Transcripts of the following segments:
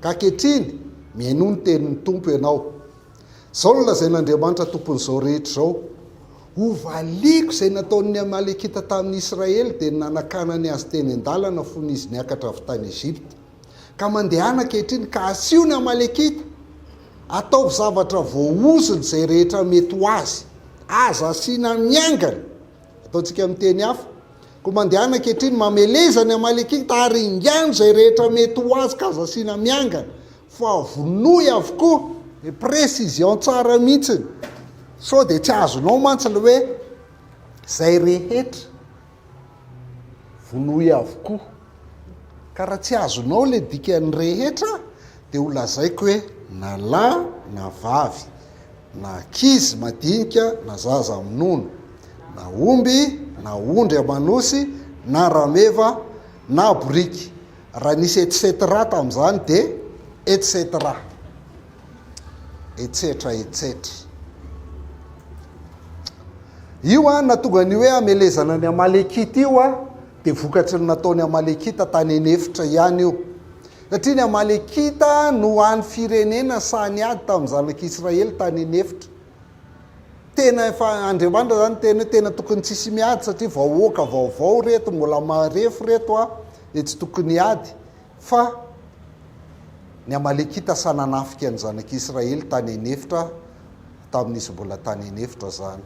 Ka ankehitriny, mihainoa ny tenin'ny Tompo ianao. Izao no lazain'Andriamanitra Tompon'izao rehetra izao, Hovaliako izay nataon'ny Amalekita tamin'ny Israely, dia ny nanakanany azy teny an-dalana fony izy niakatra avy tany Egypta. Ka mandehana ankehitriny, ka asio ny Amalekita! Ataovy zavatra voaozona izay rehetra mety ho azy! Aza asiana miangana! Ataontsika amin'ny teny hafa, Koa mandehana ankehitriny, mameleza ny Amalekita, ary ingano izay rehetra mety ho azy ka aza asiana miangana, fa vonoy avokoa, dia précision tsara mihitsiny, sao dia tsy azonao mantsy ilay hoe izay rehetra vonoy avokoa, ka raha tsy azonao ilay dikan'ny rehetra dia ho lazaiko hoe na lahy na vavy. na ankizy madinika na zaza minono, na omby na ondry aman'osy na rameva na boriky, raha nisy etc tamin'izany dia etc. Etsetra etsetra. Io an, nahatonga ny hoe hamelezana ny Amalekita io an, Dia vokatry ny nataon'ny Amalekita tany an'efitra ihany io. Satria ny Amalekita no hany firenena sahy niady tamin'ny zanak'Israely tany an'efitra. Tena efa, Andriamanitra izany niteny hoe tena tokony tsy hisy miady satria vahoaka vaovao ireto, mbola marefo ireto an, dia tsy tokony hiady. Fa ny Amalekita sahy nanafika ny zanak'Israely tany an'efitra tamin'izy mbola tany an'efitra izany.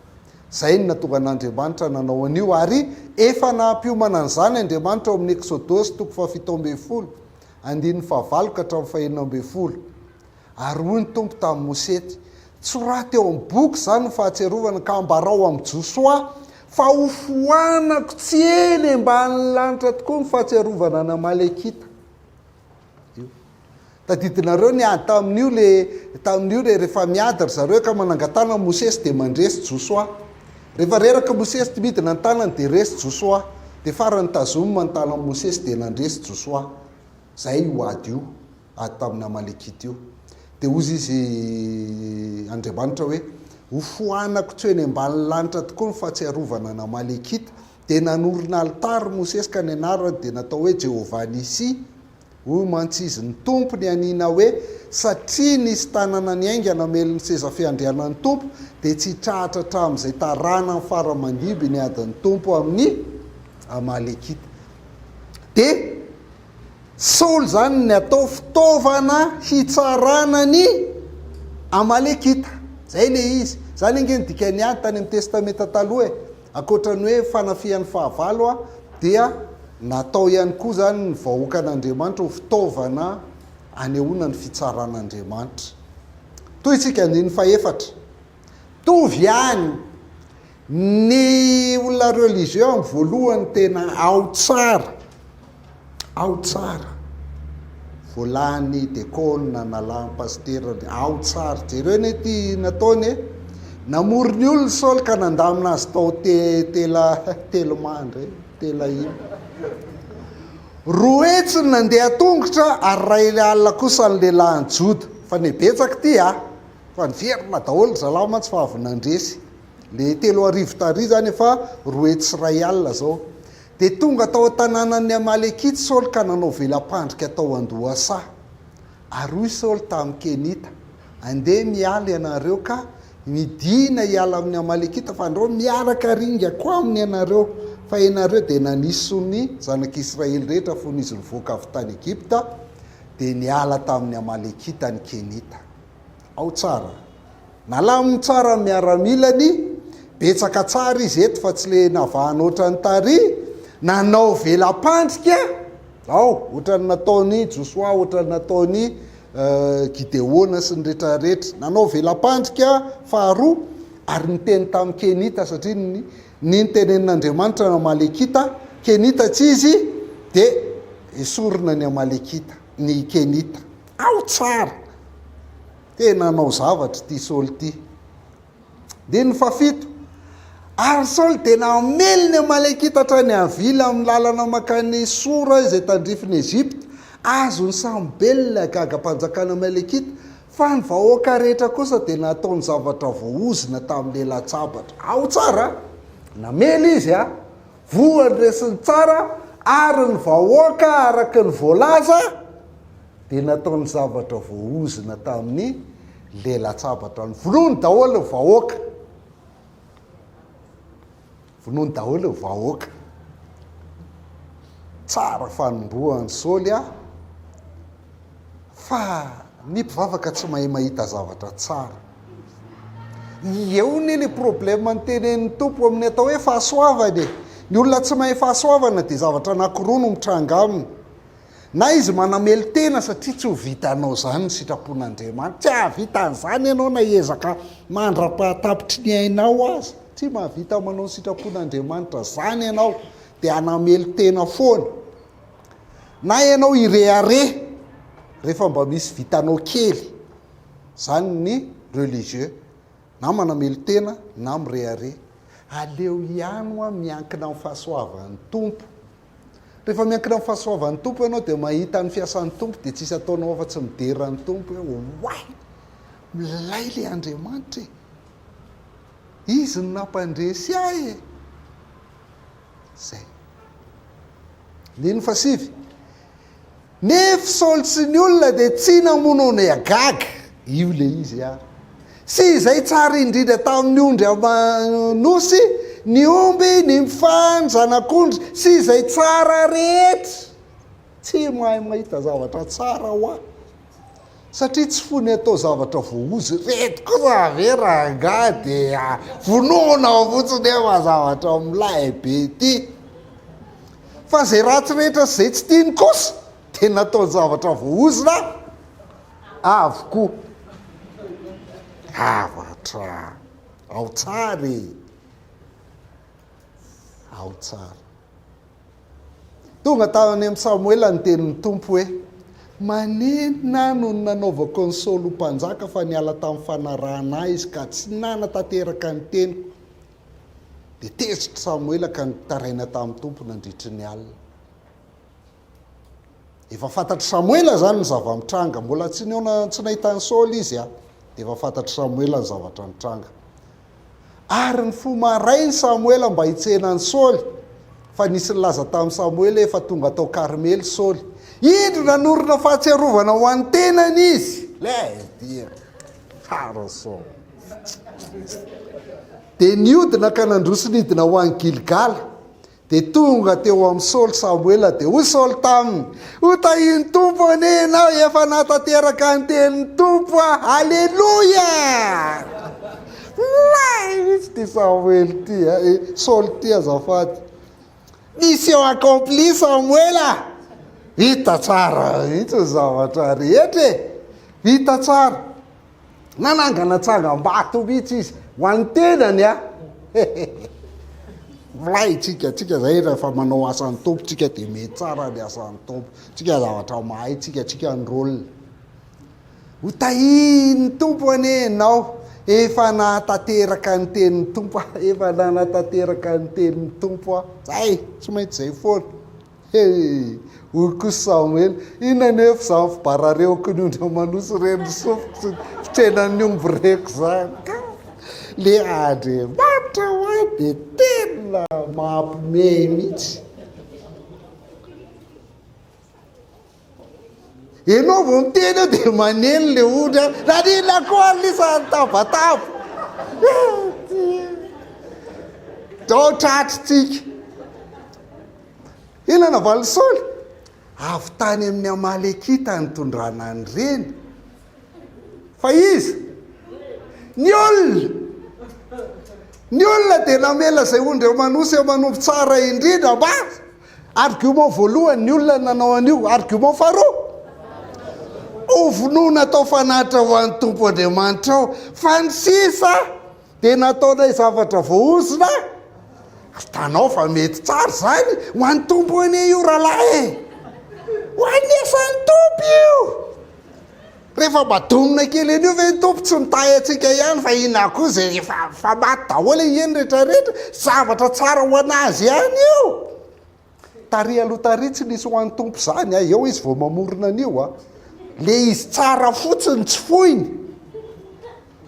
Izay no nahatongan'Andriamanitra nanao an'io, ary efa naha-mpiomana an'izany Andriamanitra ao amin'ny Eksodosy toko fahafito ambin'ny folo, andininy fahavalo ka hatramin'ny fahenina ambin'ny folo. Ary hoy ny Tompo tamin'i Mosesy, Tsoraty eo amin'ny boky izany ny fahatsiarovana ka ambarao amin'i Josoa fa hofoanako tsy eny ambany lanitra tokoa ny fahatsiarovana an'Amalekita. Tadidinareo ny ady tamin'io le tamin'io le rehefa miady ry zareo ka manangatana an'i Mosesy dia mandresy Josoa. Rehefa reraka Mosesy tsy midina ny tanany dia resy Josoa. Dia farany tazomina ny tanan'i Mosesy dia nandresy Josoa. Izay io ady io, ady tamin'ny Amalekita io. Dia hozy izy Andriamanitra hoe, Hofoanako tsy ho eny ambanin'ny lanitra tokoa ny fahatsiarovana an'Amalekita Dia nanorina alitara Mosesy ka ny anarany dia natao hoe Jehovah-Nissi, hoy mantsy izy, Ny Tompo nianiana hoe, Satria nisy tanana niainga namely ny seza fiandrianan'ny Tompo, dia tsy hitrahatra hatramin'izay taranany fara aman-diby ny adin'ny Tompo amin'ny Amalekita. Dia Saoly izany ny atao fitaovana hitsarana ny Amalekita. Izay ilay izy. Izany ange no dikan'ny ady tany amin'ny Testamenta Taloha e. Ankoatra ny hoe fanafihan'ny fahavalo dia natao ihany koa izany ny vahoakan'Andriamanitra ho fitaovana anehoana ny fitsaran'Andriamanitra. Tohintsika andininy fahefatra. Mitovy ihany ny olona religieux amin'ny voalohany tena ao tsara. Ao tsara. Vao lany de kôna nalahan pasitera ny ao tsara. Jereo anie ty nataony e. Namory ny olona Saoly ka nandamina azy tao te tela telma ndray telaima. Roa hetsy ny nandeha tongotra ary ray alina kosa ny lehilahin'i Joda. Fa ne betsaka ty a. Fa niverina daholo ry zalahy mantsy fa avy nandresy. Le telo arivo tary zany efa roa hetsy sy ray alina zao. Dia tonga tao an-tanànan'ny Amalekita Saoly ka nanao vela-pandrika tao an-dohasaha. Ary hoy Saoly tamin'ny Kenita, Andeha miala ianareo ka midìna hiala amin'ny Amalekita, fa andao miaraka ringako aminy ianareo, fa ianareo dia naniso ny zanak'Israely rehetra fony izy nivoaka avy tany Egypta, dia niala tamin'ny Amalekita ny Kenita. Ao tsara. Nalaminy tsara ny miaramilany, betsaka tsara izy eto fa tsy le navahana ohatran'ny tary, nanao vela-pandrika ao ohatran'ny nataon'i Josoa, ohatran'ny nataon'i Gideona sy ny retraretra. Nanao vela-pandrika faharoa ary niteny tamin'ny Kenita satria ny ny nitenenin'Andriamanitra ny Amalekita, Kenita tsy izy dia esorina ny Amalekita, ny Kenita. Ao tsara! Tena hanao zavatra ity Saoly ity. Andininy fahafito, Ary Saoly dia namely ny Amalekita hatrany Havila amin'ny lalana mankany Sora izay tandrifin'i Egypta. Azon'i Samobely ilay gagam-panjakana Amalekita, fa ny vahoaka rehetra kosa dia natao ny zavatra voaozona tamin'ny elatsabatra. Ao tsara a! Namely izy a! voa ndresiny tsara ary ny vahoaka araka ny voalaza dia nataony zavatra voaozona tamin'ny lelatsabatr any vonoiny daholo ny vahoaka vonoiny daholo ny vahoaka tsara fanombohan'i Saoly a fa ny mpivavaka tsy mahay mahita zavatra tsara. Eo ne le problème ny tenenin'ny Tompo amin'ny atao hoe fahasoavana e. Ny olona tsy mahay fahasoavana dia zavatra anankiroa no mitranga aminy. Na izy manamelo-tena satria tsy ho vitanao izany ny sitrapon'Andriamanitra. Tsy hahavita an'izany ianao na hiezaka mandra-pahatapitry ny ainao aza. Tsy mahavita manao ny sitrapon'Andriamanitra izany ianao dia hanamelo-tena foana. Na ianao irehareha rehefa mba misy vitanao kely, izany ny religieux, na manamelo-tena na mirehareha. Aleo ihany hoa miankina amin'ny fahasoavan'ny Tompo. Rehefa miankina amin'ny fahasoavan'ny Tompo ianao dia mahita ny fiasan'ny Tompo dia tsisy ataonao afa-tsy midera ny Tompo hoe oay! Milay ilay Andriamanitra e! Izy no nampandresy ahy e! izay. Andininy fahasivy, Nefo Saoly sy ny olona dia tsy namono an'i Agag, io ilay izy a, sy izay tsara indrindra tamin'ny ondry aman'osy, ny omby, ny mfa, ny zanak'ondry, sy izay tsara rehetra. Tsy mahay mahita zavatra tsara hoa. Satria tsy fony atao zavatra voahozo ireto kosa ve rangahy dia vonoina ao fotsiny eo fa zavatra milay be ity. Fa izay ratsy rehetra sy izay tsy tiany kosa dia nataony zavatra voahozona avokoa. Zavatra ao tsara e! Ao tsara. Tonga tany amin'i Samoela ny tenin'ny Tompo hoe, Maninona no nanaovako an'i Saoly ho mpanjaka fa niala tamin'ny fanarahana ahy izy ka tsy nanatanteraka ny teniko? Dia tezitr'i Samoela ka nitaraina tamin'ny Tompo nandritry ny alina. Efa fantatr'i Samoela izany ny zava-mitranga. Mbola tsy nihaona tsy nahita an'i Saoly izy, dia efa fantatr'i Samoela ny zavatra nitranga. Ary nifoha marain' i Samoela mba hitsena an'i Saoly, fa nisy nilaza tamin'i Samoela hoe, Efa tonga tao Karmely Saoly. Indro nanorina fahatsiarovana ho an'ny tenany izy. Lay dia tsara Saoly. Dia niodina ka nandroso nidina ho any Gilgala. Dia tonga teo amin'i Saoly Samoela, dia hoy Saoly taminy, Ho tahian'ny Tompo anie ianao, efa nahatateraka ny tenin'ny Tompo aho. Aleloia! Mahitsy ty Samoela ty, eh, eh, Saoly ty azafady. Mission accomplie Samoela! Vita tsara mihitsy ny zavatra rehetra e! Vita tsara. Nanangana tsangambato mihitsy izy ho an'ny tenany a! Milay tsika, tsika zay rehefa manao asan'ny Tompo tsika dia mety tsara ny asan'ny Tompo, tsika zavatra mahay tsika, tsika ny rôle. Ho tahian'ny Tompo anie ianao, efa nahatateraka ny tenin'ny Tompo aho, efa nanatanteraka ny tenin'ny Tompo aho. Zay, tsy maintsy zay foana. He! hoy kosa Samoela, inona anefa izany fibararehoky ny ondry aman'osy ireny, ny sofiko sy ny fitsenan'ny omby reko izany ka! Le Andriamanitra ho ahy dia tena mampiomehy mihitsy. Enao vao miteny eo dia maneno le ondry a. Naninona koa ary lisa nitabataba. Dao tratritsika. Inona na valisoly? Avy tany amin'ny Amalekita nitondrana an'ireny. Fa iza? Ny olona. Ny olona dia namela izay ondry aman'osy aman'omby tsara indrindra mba Argument voalohany, ny olona no nanao an'io. Argument faharoa, hovonoina atao fanatitra ho an'ny Tompo Andriamanitrao. Fa ny sisa dia nataonay zavatra voahozona, hitanao fa mety tsara izany ho an'ny Tompo anie io rahalahy e! Ho an'ny asan'ny Tompo io! Rehefa mba domina kely an'io ve ny Tompo tsy mitahy antsika ihany fa inona koa izay efa efa maty daholo e eny rehetra rehetra zavatra tsara ho an'azy ihany io tary aloha tary tsy nisy ho an'ny Tompo izany a eo izy vao mamorona an'io a le izy tsara fotsiny tsy foiny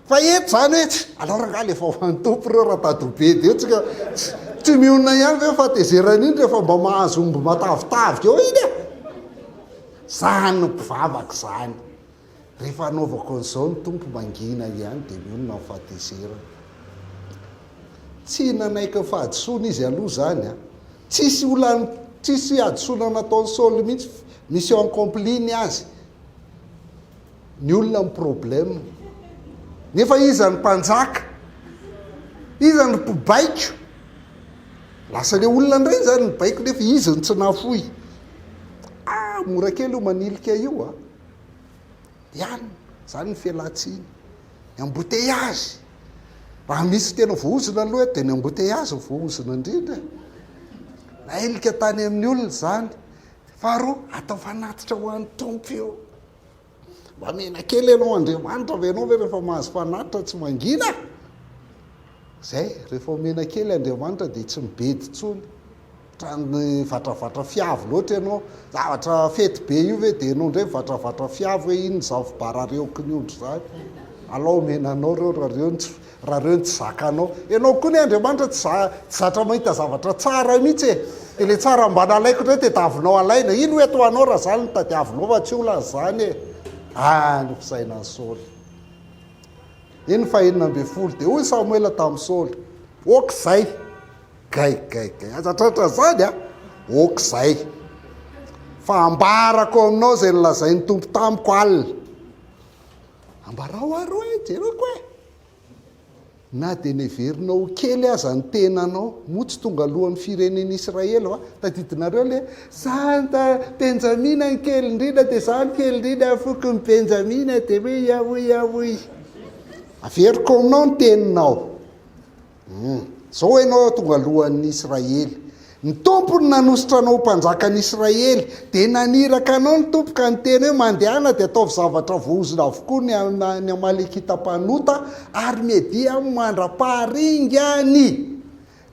Fa eto zany hoe tsy, alors angaha le vaohan'ny Tompo reo radadobe de tsy ka tsy mionona ihany ve fa tezerany iny refa mba mahazo omby matavitavy eo iny e! Zany no mpivavaka zany. Refa anaovako an'izao ny Tompo mangina ihany de mionona ny fahatezerany. Tsy nanaiky ny fahadisoany izy aloha zany a! Tsisy olany tsisy hadisoana nataon'i Saoly mihitsy, mission accomplie ny azy. ny olona ny problème nefa iza ny mpanjaka? iza ny mpibaiko? lasa le olona ndray izany mibaiko nefa izy no tsy nafoy ah mora kely io manilika io a ihany zany ny fialantsiny ny embouteillage raha misy tena voahozona aloha eto dia ny embouteillage ny voahozona indrindra nailika tany amin'ny olona izany faharoa atao fanatitra ho an'ny tompo io Mamela kely ianao Andriamanitra ve ianao ve rehefa mahazo fanatitra tsy mangina? Zay, rehefa omena kely Andriamanitra dia tsy mibedy intsony. Trano vatravatra fiavo loatra ianao. Zavatra fety be io ve dia ianao indray mivatravatra fiavo hoe iny ny zavobarareo kiniondry zany. Alao omena anao ireo raha ireo no tsy Raha reo no tsy zakanao. Enao koa ne Andriamanitra tsy za tsy zatra mahita zavatra tsara mitsy e. De le tsara mba nalaiko ndray tedavonao alaina. Ino eto ho anao raha zany no tadiavinao fa tsy olana zany e. Ah nofosaina an'i Saoly. Iny ny fahenina ambin'ny folo de hoy Samoela tamin'i Saoly, ok zay. Gay gay gay aza tratra zany a. Ok zay. Fa ambarako aminao zay nolazain'ny Tompo tamiko alina. Ambarao ary hoe, Jereko e! Na dia neverinao ho kely aza ny tenanao, moa tsy tonga lohan'ny firenen'i Israely va? Tadidinareo ilay hoe, Izaho ny ta-, Benjamina ny kely indrindra, dia izaho ny kely indrindra amin'ny fokon'i Benjamina, dia hoe, Iahoiahoy! Averiko aminao ny teninao. Humm. Zao enao tonga lohan'ny Israely. Ny Tompo no nanosotra anao ho mpanjakan'ny Israely. Dia naniraka anao ny Tompo ka niteny hoe, Mandehana dia ataovy zavatra voahozona avokoa ny ny Amalekita mpanota ary Media mandra-paharingany.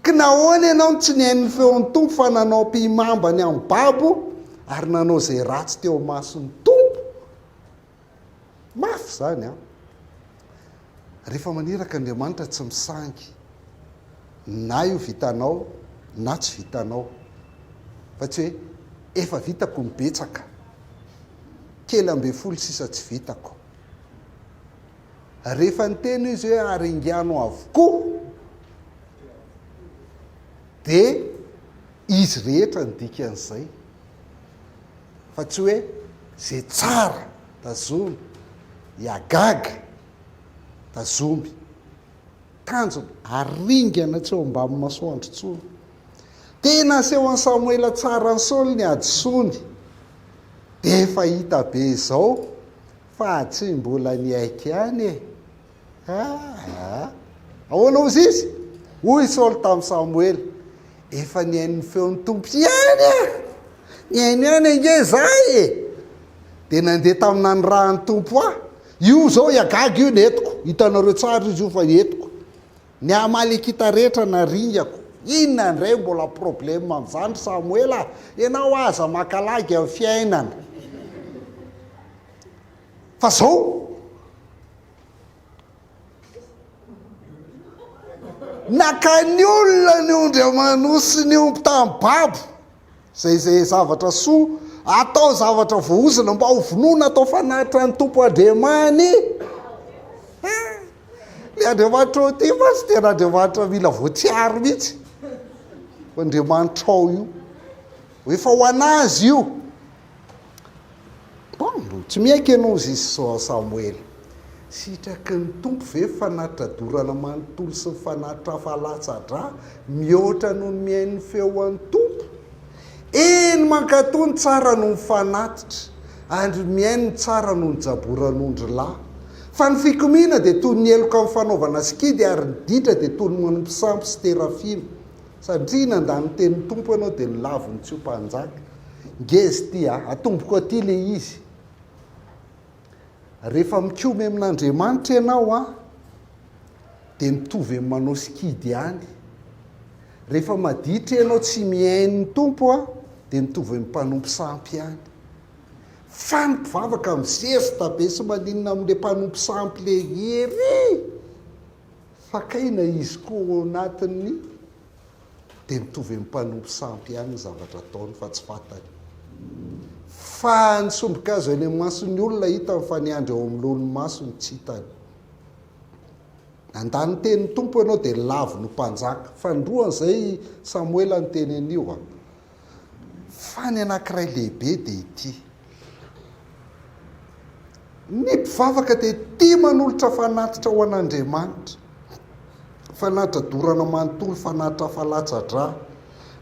Ka nahoana enao no tsy nihaino ny feon'ny Tompo fa nanao ampihimamba ny amin'ny babo ary nanao izay ratsy teo imason'ny Tompo? Mafy izany an! Rehefa maniraka Andriamanitra tsy misangy na io vitanao na tsy vitanao fa tsy hoe efa vitako ny betsaka, kely ambin'ny folo sisa tsy vitako. Rehefa niteny izy hoe ary ingano avokoa dia izy rehetra ny dikan'izay. fa tsy hoe ze tsara tazomy iagaga tazomy tanjona. Ary ringana tsy ao ambamy masoandro tsony. Tena asehon'i Samoela tsara an'i Saoly ny hadisoany. Dia efa hita be izao fa tsy mbola niaiky ihany e. Aa! Ahoana hozy izy? Hoy Saoly tamin'i Samoela, Efa nihaino ny feon'ny Tompo ihany aho, nihaino ihany ange izahay e! Dia nandeha tamin'ny nanirahan'ny Tompo ahy. Io izao i Agaga io no entiko, hitanareo tsara izy io fa entiko. Ny Amalekita rehetra naringako. Inona indray mbola problème amin'izany ry Samoela a! Ianao aza maka lagy amin'ny fiainana. Fa zao naka ny olona ny ondry aman'osy ny omby tamin'ny babo zay zay zavatra soa atao zavatra voahozona mba ho vonoina atao fanatitra ny tompo andriamani le andriamanitra ao ty fa tsy tena andriamanitra mila voatsiaro mihitsy andriamanitra ao io efa ho anazy io Paolo, Tsy miaiky ianao zy Samoela. Sitraky ny Tompo ve ny fanatradorana manontolo sy ny fanatrafa latsa-drà mihoatra noho ny mihaino ny feon'ny Tompo? Eny, mankatò ny tsara noho ny fanatitra, ary mihaino ny tsara noho ny jaboran'ondry lahy. Fa ny fikomiana dia toy ny heloka amin'ny fanaovana sikidy, ary ny ditra dia toy ny manompo sampy sy terafina. Satria nandà ny tenin'ny Tompo ianao dia lavo ny tsy ho mpanjaka. Ngeza ity a! Atomboko aty ilay izy. Rehefa mikomy amin'Andriamanitra ianao a, dia mitovy amin'ny manao sikidy ihany. Rehefa maditra ianao tsy mihaino ny Tompo a, dia mitovy amin'ny mpanompo sampy ihany. Fa ny mpivavaka mizesta be sy maninona amin'ilay mpanompo sampy lery. Fakaina izy koa ao anatiny dia mitovy amin'ny mpanompo sampy ihany ny zavatra ataony fa tsy fantany. Fa ny sombin-kazo eny amin'ny mason'ny olona hitany fa ny andry ao amin'ny lohan'ny masony tsy hitany. Nandà ny tenin'ny Tompo ianao dia lavo ny mpanjaka. Fanindroan'izay i Samoela niteny an'io. Fa ny anankiray lehibe dia ity, Ny mpivavaka dia tia manolotra fanatitra ho an'Andriamanitra, fanatitra dorana manontolo, fanatitra hafa-latsa-drà,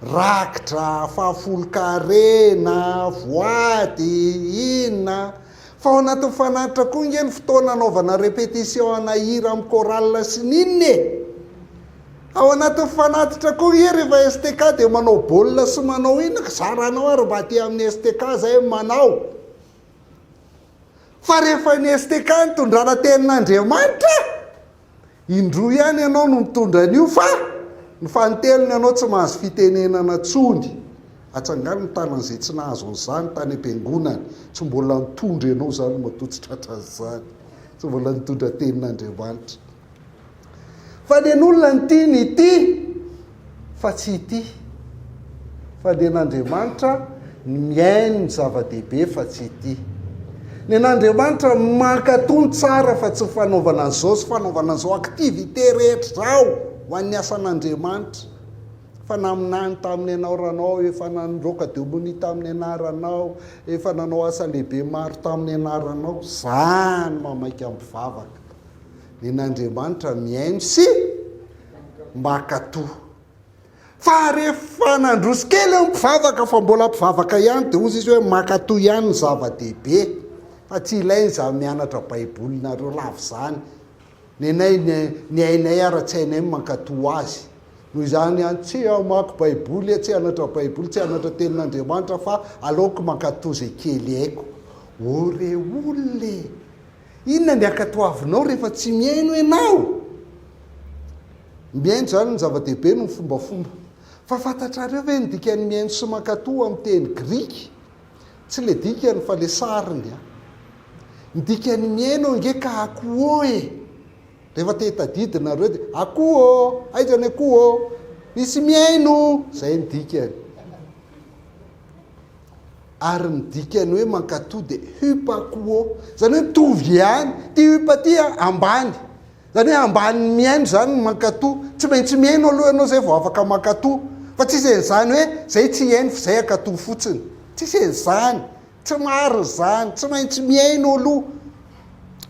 raki-drà, fahafolon-karena, voady, inona. Fa ao anatin'ny fanatitra koa ange ny fotoana anaovana répétition ana hira amin'ny chorale sy ny inona e! Ao anatin'ny fanatitra koa ie rehefa STK dia manao baolina sy manao inona ka zaranao ary mba aty amin'ny STK zay ny manao. Fa rehefa ny STK no tondrana tenin'Andriamanitra, indroa ihany ianao no mitondra an'io fa ny fanintelony ianao tsy mahazo fitenenana tsony. Atsangano ny tanan'izay tsy nahazo an'izany tany am-piangonany, tsy mbola nitondra ianao izany matoa tsy tratran'izany, tsy mbola nitondra tenin'Andriamanitra. Fa dia n'olona ny tiany ity fa tsy ity. Fa dia n'Andriamanitra ny mihaino ny zava-dehibe fa tsy ity. Dia n'Andriamanitra ny mankatò ny tsara fa tsy ny fanaovana an'izao sy fanaovana an'izao, activités rehetra izao ho an'ny asan'Andriamanitra. Efa naminany tamin'ny anaoranao, efa nandroaka demonia tamin'ny anaranao, efa nanao asa lehibe maro tamin'ny anaranao. Izany mamaika mpivavaka. nen'Andriamanitra mihaino sy mankatò. Fa rehefa nandroso kely ny mpivavaka fa mbola mpivavaka ihany dia hozy izy hoe mankatò ihany ny zava-dehibe fa tsy ilaina izany mianatra baibolinareo lava izany. Nenay ny ainay ara tsy ainay mankatò azy. Noho izany ihany tsy hamaky baiboly, tsy hanatra baiboly, tsy hanatra tenin'Andriamanitra fa aleoko mankatò izay kely haiko. O re olona e! Inona ny ankatoavinao rehefa tsy mihaino ianao? Mihaino izany no zava-dehibe noho ny fombafomba. Fa fantatrareo ve ny dikan'ny mihaino sy mankatò amin'ny teny grika? Tsy ilay dikany fa ilay sariny an! Ny dikan'ny mihaino ange ka akoho e! Rehefa te hitadidy nareo dia akoho ô! Aiza ny akoho ô! Misy mihaino! Izay ny dikany. Ary ny dikan'ny hoe mankatoa dia hupa kuo, izany hoe mitovy ihany. Ity hupa ity ambany. Izany hoe ambanin'ny mihaino izany ny mankatoa. Tsy maintsy mihaino aloha ianao izay vao afaka mankatoa. Fa tsisy an'izany hoe izay tsy hihaino f'izay hankatoa fotsiny. Tsisy an'izany. Tsy marina izany. Tsy maintsy mihaino aloha.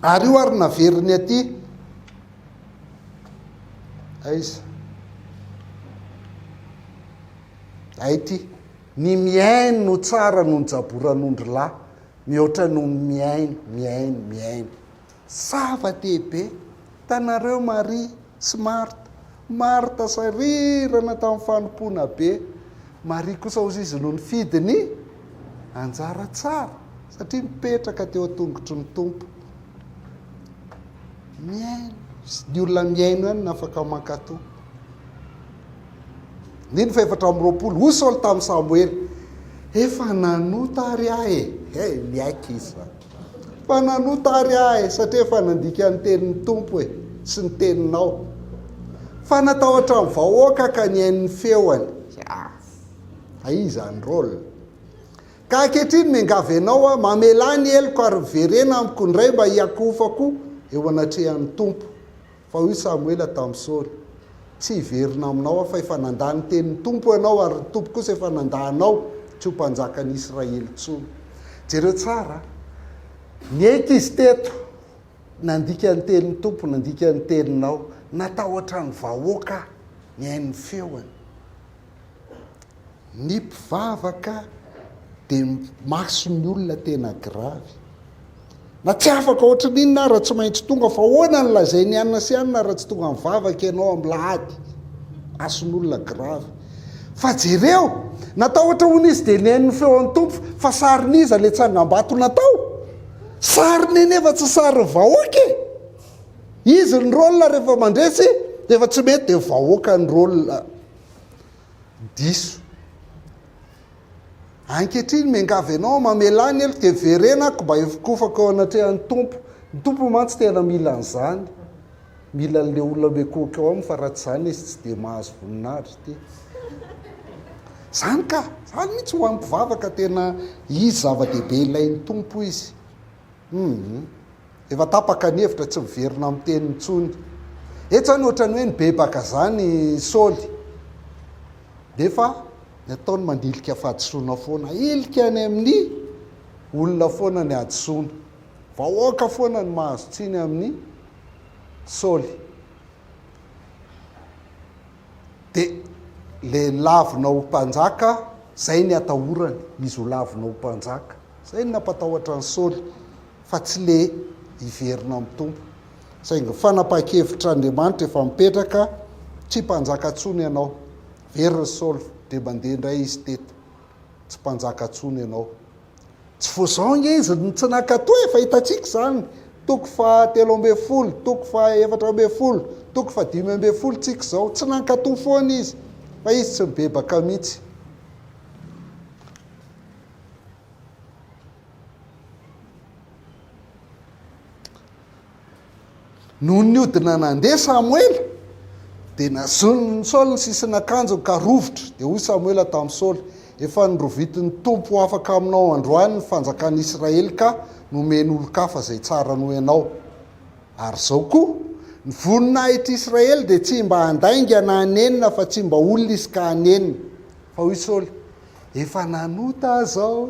Ary io ary naveriny aty. Aiza? Hay ity, ny mihaino no tsara noho ny jaboran'ondry lahy, mihoatra noho ny mihaino, mihaino, mihaino. Zava-dehibe! Hitanareo Maria sy Marta, Marta sarirana tamin'ny fanompoana be, Maria kosa hozy izy no nifidy ny anjara tsara, satria mipetraka teo an-tongotry ny Tompo. Mihaino, ny olona mihaino ihany no afaka mankato. Andininy fahefatra amby roapolo, hoy Saoly tamin'i Samoela, Efa nanota àry aho e! Hey, miaiky izy fa. Efa nanota àry aho e, satria efa nandika ny tenin'ny Tompo e, sy ny teninao. Fa natahotra ny vahoaka ka nihaino ny feony. Ah, hay izany rôle. Ka ankehitriny miangavy anao aho, mamelà ny heloko ary miverena amiko indray mba hiakohofako eo anatrehan'ny Tompo. Fa hoy Samoela tamin'i Saoly, Tsy hiverina aminao aho, fa efa nandà ny tenin'ny Tompo ianao, ary ny Tompo kosa efa nandà anao tsy ho mpanjakan'ny Israely intsony. Jereo tsara, niaiky izy teto, nandika ny tenin'ny Tompo, nandika ny teninao, natahotra ny vahoaka aho, nihaino ny feony. Ny mpivavaka dia maso ny olona tena gravy. Na tsy afaka ohatry ny inona ara tsy maintsy tonga fa ahoana ny lazain'i anona sy anona ara tsy tonga mivavaka ianao amin'lahady. Mason'olona gravy. Fa jereo, natahotra hono izy dia nihaino ny feon'ny Tompo fa sarin'iza ilay tsangambato natao? Sariny anefa tsy sarin'ny vahoaka e! Izy ny rôle rehefa mandresy dia efa tsy mety dia vahoaka ny rôle Diso. Ankehitriny miangavy anao, mamelà ny heloko dia verena aho mba hifokofako eo anatrehan'ny Tompo. Ny Tompo mantsy tena mila an'izany. Mila an'ilay olona mikohoka eo aminy fa raha tsy izany izy tsy dia mahazo voninahitra ity. Izany ka, izany mihitsy ho an'ny mpivavaka tena izy zava-dehibe ilain'ny Tompo izy. Hum. Efa tapaka ny hevitra tsy miverina am teniny intsony etsy zany ohatrany hoe nibebaka zany Saoly nefa ny ataony mandilika fahadisoana foana hilika any aminy olona foana ny hadisoana vahoaka foana no mahazo tsiny aminy Saoly. De le lavina ho mpanjaka zay ny atahorany izy ho lavina ho mpanjaka zay ny nampatahotra an'i Saoly fa tsy le hiverina amin'ny Tompo saingy ny fanapahan-kevitr'Andriamanitra efa mipetraka tsy mpanjaka tsony ianao very ry Saoly de mandeha indray izy teto tsy mpanjaka tsony ianao Tsy vao izao ange izy no tsy nankatò, efa hitantsika izany, toko faha telo ambin'ny folo, toko faha efatra ambin'ny folo, toko faha dimy ambin'ny folo tsika izao, tsy nankatò foana izy, fa izy tsy nibebaka mihitsy. Nony niodina nandeha Samoela, dia nazonin'i Saoly ny sisin'akanjony ka rovitra. Dia hoy Samoela tamin'i Saoly, Efa norovitin'ny Tompo afaka aminao androany ny fanjakan'Israely ka nomeny olon-kafa izay tsara noho ianao. Ary izao koa, ny voninahitr'i Israely dia tsy mba handainga na hanenina afa-tsy mba olona izy ka hanenina. Fa hoy Saoly, Efa nanota aho izao.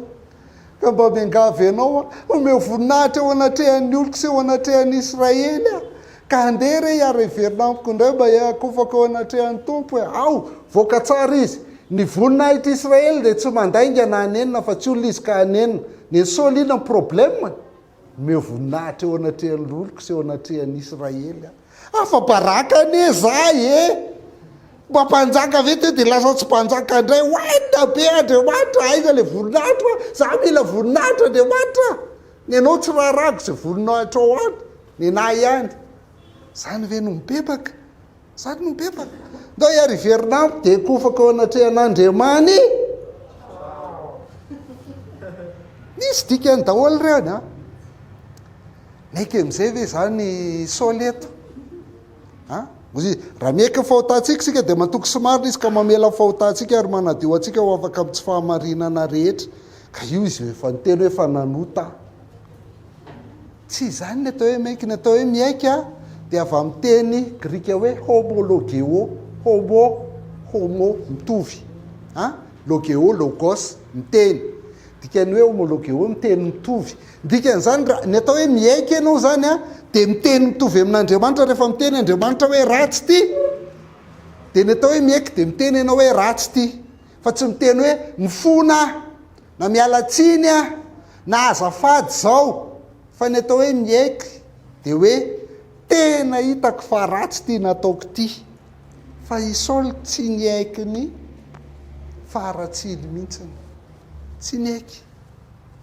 Ka mba miangavy anao aho, omeo voninahitra eo anatrehan'ny oloko sy eo anatrehan'i Israely aho. Ka andeha re ary heverina amiko indray mba hiakofako eo anatrehan'ny Tompo e. Ao! Voaka tsara izy. Ny voninahitr'i Israely dia tsy mandainga na hanenina fa tsy olona izy ka hanenina. Ny an'i Saoly inona ny problème-ny? Omeo voninahitra eo anatrehan'ny loloko sy eo anatrehan'i Israely aho. Afa-baraka anie izaho e! Mba mpanjaka ve teo dia lasa tsy mpanjaka indray? Hoenina be Andriamanitra, aiza ilay voninahitro a? Izaho mila voninahitro Andriamanitra a! Ny anao tsy raharahako izay voninahitrao any, ny anà ihany. Izany ve no mibebaka? Izany no bebaka. Ndao iary hiverina amiko dia kofako eo anatrehan'Andriamani. Misy dikany daholo ireny a. Meka amin'izay ve izany Saoly eto? A? Raha meka ny fahotantsika isika dia matoky sy marina izy ka mamela ny fahotantsika ary manadio antsika ho afaka amin'ny tsy fahamarinana rehetra. Ka io izy efa niteny hoe fa nanota aho. Tsy izany ny atao hoe miaiky. Ny atao hoe miaiky dia avy amin'ny teny grika hoe homologeo, homo, homo, mitovy, an, logeo, logos, miteny. Dikan'ny hoe homologeo, miteny mitovy. Ny dikan'izany, raha ny atao hoe miaiky ianao izany dia miteny mitovy amin'Andriamanitra rehefa miteny Andriamanitra hoe ratsy ity, dia ny atao hoe miaiky dia miteny ianao hoe ratsy ity. Fa tsy miteny hoe mifona aho, na miala tsiny aho, na azafady izao, fa ny atao hoe miaiky dia hoe tena hitako fa ratsy ity nataoko ity. Fa i Saoly tsy niaiky ny faharatsiany mihitsiny. Tsy niaiky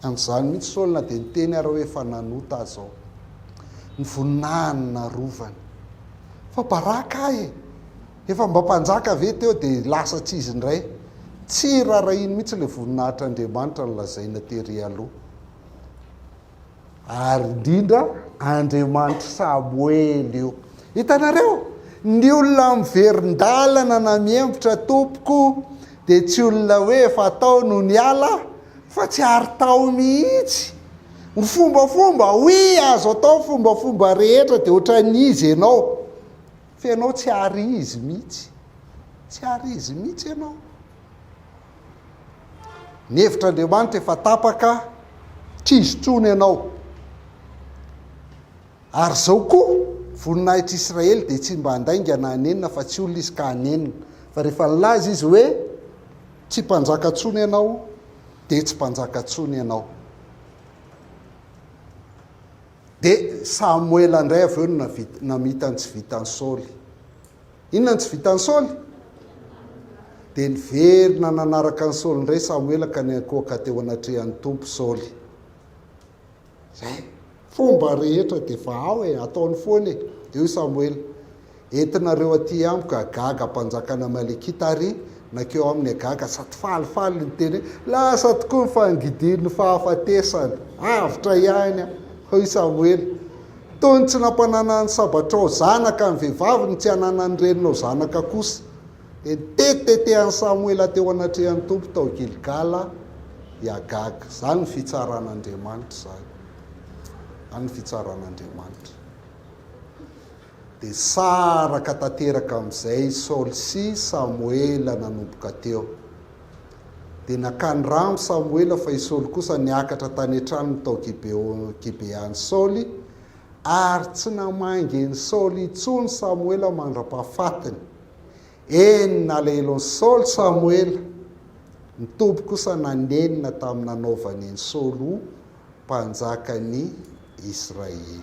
an'izany mihitsy Saoly na dia niteny ary hoe efa nanota aza aho. Ny voninahiny narovany. Fa baraka ahy e! Efa mba mpanjaka ve teo dia lasa tsy izy indray? Tsy rarahiany mihitsy ilay voninahitr'Andriamanitra nolazaina tery aloha. Ary indrindra Andriamanitr'i Samoela io. Hitanareo? Ny olona miverin-dalana na mihembotra tompoko dia tsy olona hoe efa tao no niala fa tsy ary tao mihitsy. Ny fombafomba, oui, azo atao ny fombafomba rehetra dia ohatran'iza ianao. fa ianao tsy hary izy mihitsy, tsy hary izy mihitsy ianao. Ny hevitr'Andriamanitra efa tapaka, tsy izy intsony ianao. Ary izao koa, voninahitr' Israely dia tsy mba handainga na hanenina fa tsy olona izy ka hanenina. Fa rehefa nilaza izy hoe, Tsy mpanjaka intsony ianao, dia tsy mpanjaka intsony ianao. Dia Samoela indray avy eo no namita ny tsy vitan'i Saoly. Inona no tsy vitan'i Saoly? Dia niverina nanaraka an'i Saoly indray Samoela ka niankohoka teo anatrehan'ny Tompo Saoly. Izay. Fomba rehetra dia efa ao e, ataony foana e. Eo i Samoela. Entinareo aty amiko Agag mpanjakan' Amalekita ary nankeo aminy Agag sady falifaly niteny hoe, Lasa tokoa ny fangidin' ny fahafatesana, avotra ihany aho. Hoy Samoela, Toy ny tsy nampananany ny sabatrao zanaka ny vehivavy no tsy hananany ny reninao zanaka kosa. Dia nitetitetehany Samoela teo anatrehan' ny Tompo tao Gilgala i Agag. Izany ny fitsaran' Andriamanitra izany. Izany ny fitsaran' Andriamanitra. Dia saraka tanteraka amin'izay Saoly sy Samoela nanomboka teo. Dia nakany rano Samoela fa i Saoly kosa niakatra tany an-tranony tao Gibea an'i Saoly, ary tsy namangy an'i Saoly intsony Samoela mandra-pahafatiny. Eny, nalahelo an'i Saoly Samoela. Ny Tompo kosa nanenina tamin'ny nanaovany an'i Saoly ho mpanjakan'ny Israely.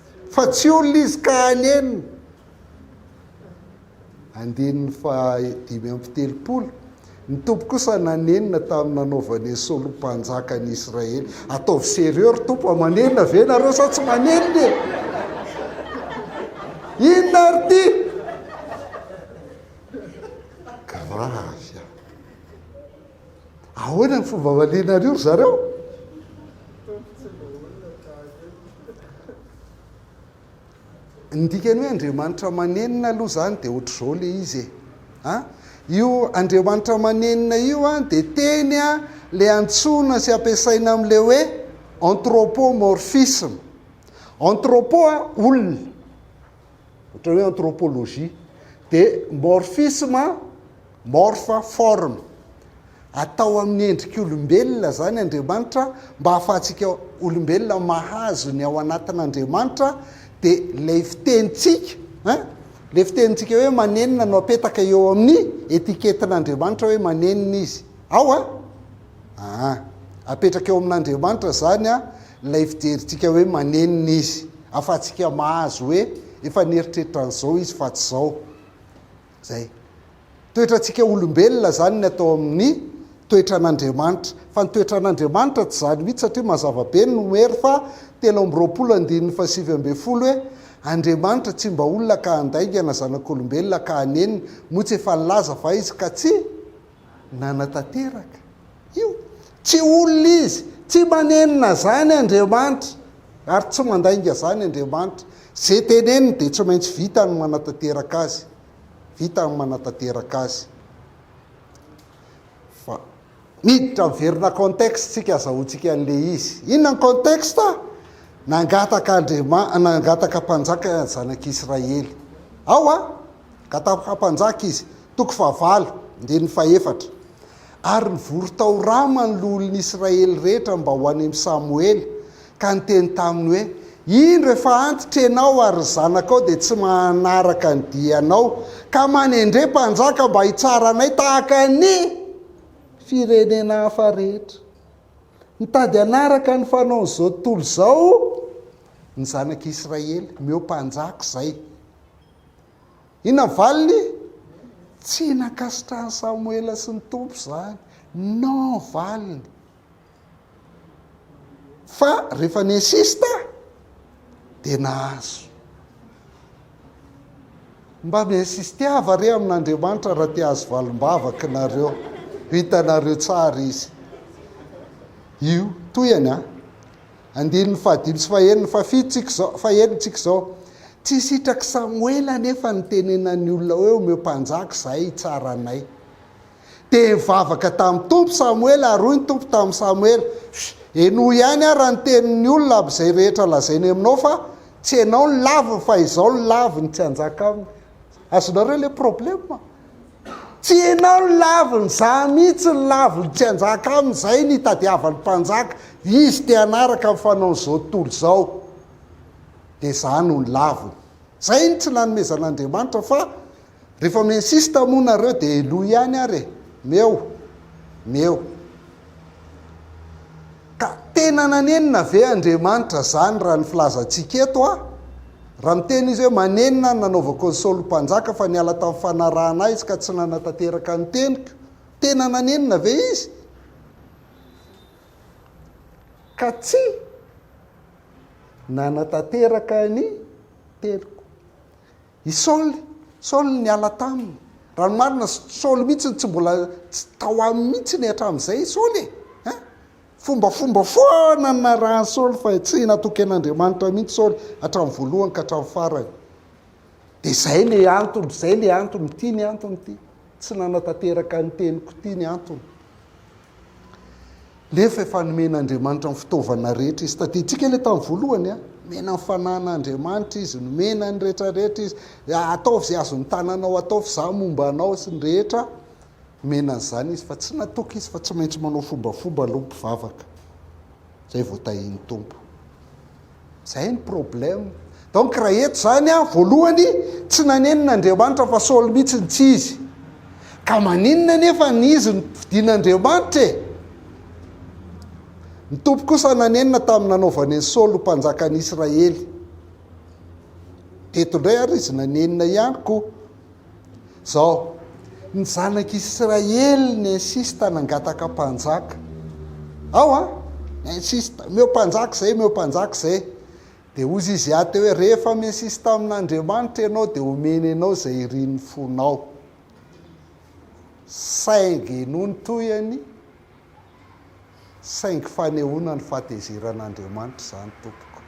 Fa tsy olona izy ka hanenina. Andininy fahadimy amby telopolo, Ny Tompo kosa nanenina tamin'ny nanaovany an'i Saoly ho mpanjaka an'i Israely. Ataovy sérieux ry Tompo a, manenina ve ianareo sa tsy manenina e? Inona ary ity? Grave a! Ahoana ny fomba valianareo ry zareo? Ny dikany hoe Andriamanitra manenina aloha izany dia ohatr'izao ilay izy e. A, io Andriamanitra manenina io a dia teny a ilay antsoina sy ampiasaina amin'ilay hoe anthropomorphisme. Anthropo a olona. ohatra hoe anthropologie, dia morphisme, morphe, forme. Atao amin'ny endrik'olombelona izany Andriamanitra mba hahafahantsika olombelona mahazo ny ao anatin'Andriamanitra, dia ilay fitenintsika, ein, ilay fitenintsika hoe manenina no apetaka eo amin'ny etiketin'Andriamanitra hoe manenina izy ao a. Aa! Apetraka eo amin'Andriamanitra izany an, ilay fijerintsika hoe manenina Izy, ahafahantsika mahazo hoe efa nieritreritra an'izao Izy fa tsy izao. Izay. Toetrantsika olombelona izany ny atao amin'ny toetran'Andriamanitra. Fa ny toetran'Andriamanitra tsy izany mihitsy satria mazava be ny nomer fa telo amby roapolo andininy fahasivy ambin'ny folo hoe, Andriamanitra tsy mba olona ka handaingana zanak'olombelona ka hanenina, moa tsy efa nilaza fa Izy ka tsy. nanatanteraka io. Tsy olona izy, tsy manenina zany Andriamanitra ary tsy mandainga zany Andriamanitra. Ze teneniny dia tsy maintsy vitany ny manatanteraka azy, vitany ny manatanteraka azy. Fa miditra miverina contexte tsika azahoantsika an'le izy. Inona ny contexte? Nangataka Andriamanitra, nangataka mpanjaka ny zanak'Israely. Ao a! Ka tamin'ny faha-mpanjaka izy. Toko fahavalo, andininy fahefatra. Ary nivory tao Rama ny loholon'ny Israely rehetra mba ho any amin'i Samoela, ka niteny taminy hoe, Indro efa antitra ianao ary ny zanakao dia tsy manaraka ny dianao, ka manendre mpanjaka mba hitsara anay tahaka ny firenena hafa rehetra. Mitady hanaraka ny fanaon'izao tontolo izao ny zanak'i Israely, omeo mpanjaka izay. Inona ny valiny? Tsy nankasitrahan'i Samoela sy ny Tompo izany. Non valiny. Fa rehefa ni-insiste dia nahazo. Mba mi-insisteava re amin'Andriamanitra raha te hahazo valim-bavaka ianareo. Hitanareo tsara izy. Io, tohihany an. Andininy fahadimy sy faheniny, fahafito tsika izao, faheno tsika izao, Tsy sitrak'i Samoela anefa ny nitenenan'ny olona hoe, Omeo mpanjaka izahay hitsara anay. Dia nivavaka tamin'ny Tompo Samoela, ary hoy ny Tompo tamin'i Samoela, Shh! Henoy ihany ary ny tenin'ny olona aby izay rehetra lazainy aminao fa, Tsy ianao no laviny fa izaho no laviny, tsy hanjaka aminy. Azonareo ilay problema? Tsy ianao ny laviny, za mihitsy ny laviny, tsy hanjaka aminy, zay no itadiavany mpanjaka, izy te hanaraka ny fanaony zao tontolo izao de za no ny laviny. Zay no tsy nanomezan'Andriamanitra fa refa mi-insiste moa nareo de eloy ihany ary e, meo, meo. Ka tena nanenina ve Andriamanitra zany raha ny filazantsika eto a? Raha miteny izy hoe, Manenina ny nanaovako an'i Saoly mpanjaka, fa niala tamin'ny fanarahana ahy izy ka tsy nanatanteraka ny teniko. Tena nanenina ve izy? Ka tsy nanatanteraka ny teniko. I Saoly, Saoly niala taminy. Raha ny marina, Saoly mihitsy no tsy mbola, tsy tao aminy mihitsy ny hatramin'izay i Saoly e. Fombafomba foana ny narahan'i Saoly fa tsy natoky an'Andriamanitra mihitsy Saoly hatramin'ny voalohany ka hatramin'ny farany. Dia izay ilay antony, izay ilay antony, ity ny antony ity. Tsy nanatanteraka ny teniko ity ny antony. Nefa efa nomen'Andriamanitra ny fitaovana rehetra izy. Tadidintsika ilay tamin'ny voalohany a. Nomena ny fananan'Andriamanitra izy, nomena ny rehetrarehetra izy. Ataovy izay azon'ny tananao atao fa izaho momba anao sy ny rehetra. Nomena an'izany izy fa tsy natoky izy fa tsy maintsy manao fombafomba aloha ny mpivavaka zay vao tahin'ny Tompo. Zay ny problème. Donc raha eto zany an, voalohany tsy nanenina Andriamanitra fa Saoly mihitsy no tsy izy. Ka maninona nefa ny izy no fidina Andriamanitra e? Ny Tompo kosa nanenina tamin'ny nanaovany an'i Saoly ho mpanjakan'i Israely. Eto indray ary izy nanenina ihany koa. Zao, ny zanak'Israely n'insista nangataka mpanjaka. Ao an! N'insista, omeo mpanjaka izay, omeo mpanjaka izay. Dia hozy izy Yahte hoe, rehefa mi-insista amin'Andriamanitra ianao dia omeny anao izay irin'ny fonao. Saingy nony tohiny, Saingy fanehoana ny fahatezeran'Andriamanitra izany tompoko.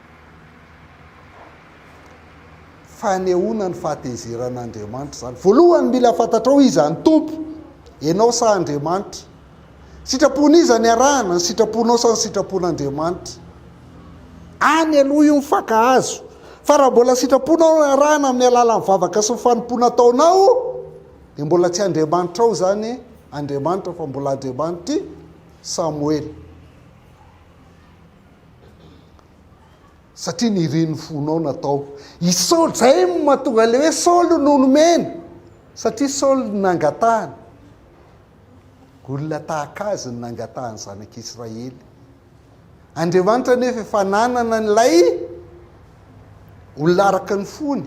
Fanehoana ny fahatezeran'Andriamanitra izany. Voalohany mila fantatrao iza ny Tompo, ianao sa Andriamanitra. Sitrapon'iza ny arahana, ny sitraponao sa ny sitrapon'Andriamanitra. Any aloha io mifankahazo. Fa raha mbola sitraponao no arahana amin'ny alalan'ny vavaka sy ny fanompoana ataonao, dia mbola tsy Andriamanitrao izany Andriamanitra fa mbola Andriamanitra i Samoela. Satria nirin'ny fonao natao i Saoly. Izay no mahatonga ilay hoe Saoly no nomena. Satria Saoly no nangatahany. Olona tahaka azy no nangatahany zanak'Israely. Andriamanitra anefa efa nanana an'ilay olona araka ny fony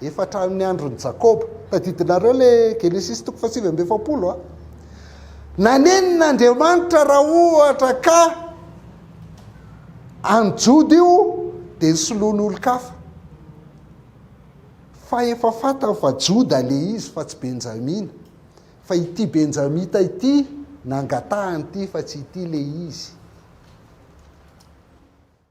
efa hatramin'ny andron'i Jakoba. Tadidinareo le Genesisy toko fahasivy amby efapolo a. Nanenina Andriamanitra raha ohatra ka any Joda io dia ny soloan'olon-kafa. Fa efa fantany fa Joda le izy fa tsy Benjamina. Fa ity Benjamita ity nangatahany ity fa tsy ity le izy.